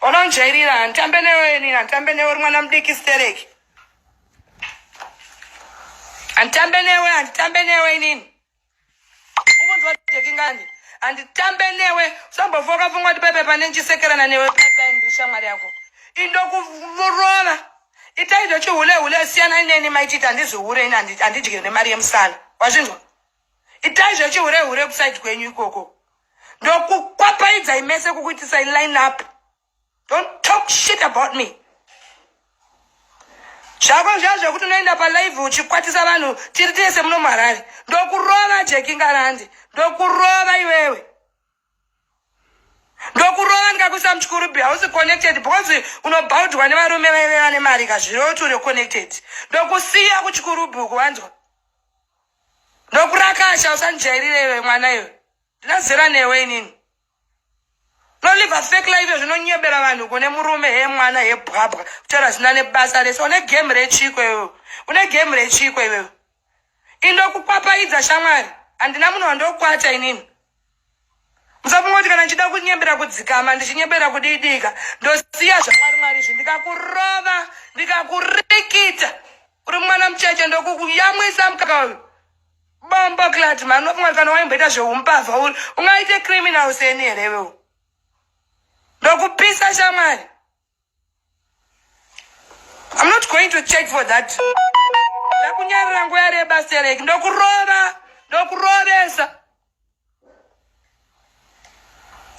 unonjairira handitambe newe inini handitambe newe uri mwana mudiki stereki handitambe newe handitambe newe inini ukunzwa jekingani handitambe newe usambofoka pfungwa kuti pepe pane ndichisekerana newe pepe ndiri shamwari yako indokurova itai zvechihure hure siyanai neni maititi handizihure ini handidyire nemari yemusana wazvinzwa itai zvechihure hure kusaidi kwenyu ikoko ndokukwapaidzai mese kukuitisai line up don't talk shit about me zvako zviya zvekuti unoenda palive uchikwatisa vanhu tiri tese muno muharare ndokurova jekingarandi ndokurova iwewe ndokurova ndikakuisa muchikurubi hausi connected because unobhaudhwa nevarume vaive vane mari kazviro kuti uri connected ndokusiya kuchikurubi uku wanzwa ndokurakasha usandijairire iwe mwana iwe ndinazera newe inini noliva fake live zvinonyebera vanhu kune murume he mwana he bwabwa kutaura zina nebasa rese une game rechiko iwe une game rechiko iwewe Indokupapaidza shamwari. Handina munhu wandokwata inini. Musafungoti kana ndichida kunyembera kudzikama ndichinyembera kudiidika ndosiya zvamwari mwari izvi ndikakurova ndikakurikita uri mwana mucheche ndokuyamwisa mukaka uyu bombo clat mani unofunga kana waimboita zveumbavha uri ungaite criminal seni here iwewo ndokupisa shamwari I'm not going to check for that. Ndakunyarira nguva yareba Sterek. Ndokurova. Ndokurovesa.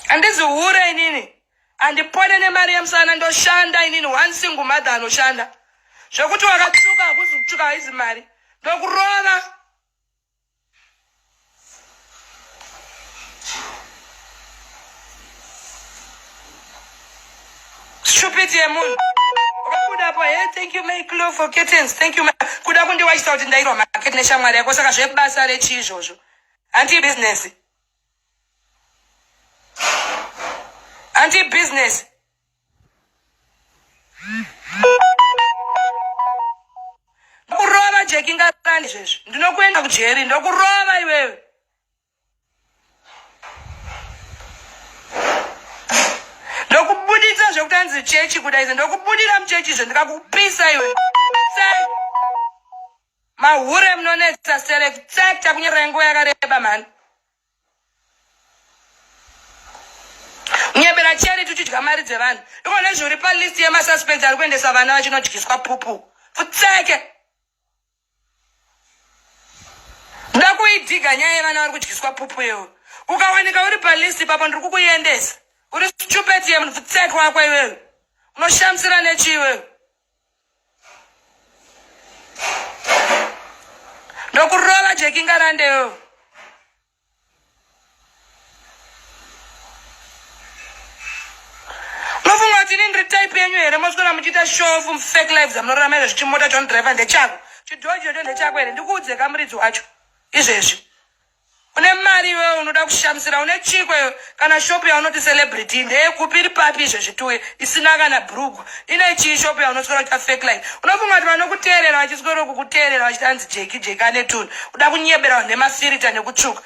Handizi hure inini. Handipone nemari yemusana ndoshanda inini one single mother anoshanda. Zvekuti wakatsvuka hakuzi kutsvuka haizi mari. Ndokurova. Stupid yemunhu kudapo he eh, thank you may clo for kittens thank you kuda kundiwachisa kuti ndairwa market neshamwari yako saka zvebasa rechii izvozvo hanti business hanti business Ndokurova Jeki ngarani zvezvi. Ndinokuenda kujeri ndokurova iwewe. Ndokubuditsa zvekutanzi chechi kuda izvo ndokubudira muchechi izvo ndikakupisa iwe. Mahure munonetsa select takunyorera nguva yakareba mhani. nyebera cheri tichidya mari dzevanhu iko nezvi uri palist yemasuspens ari kuendesa vana vachinodyiswa pupu futseke nda kuidhiga nyaya yevana vari kudyiswa pupu yewo ukawanika uri palist ipapo ndiri kukuendesa uri stupet yemunhu futseke wako iwewe unoshamisira nechi iwewe ndokurova jekingarandeyo type yenyu here moswera muchiita shofu fake lives amunorarama izvezvi chimota chonodriver ndechako chidhoji chocho ndechako here ndikuudze kamuridzi wacho izvezvi une mari iwewe unoda kushamisira une chiko iwe kana shopu yaunoti celebrity ndeyekupi iri papi izvezvi tuye isina kana brugu ine chii shopu yaunoswera kuita fake line unofunga kuti vanokuteerera vachiswero kukuteerera vachiti anzi jeki jeki ane tuni kuda kunyebera nemafirita nekutsvuka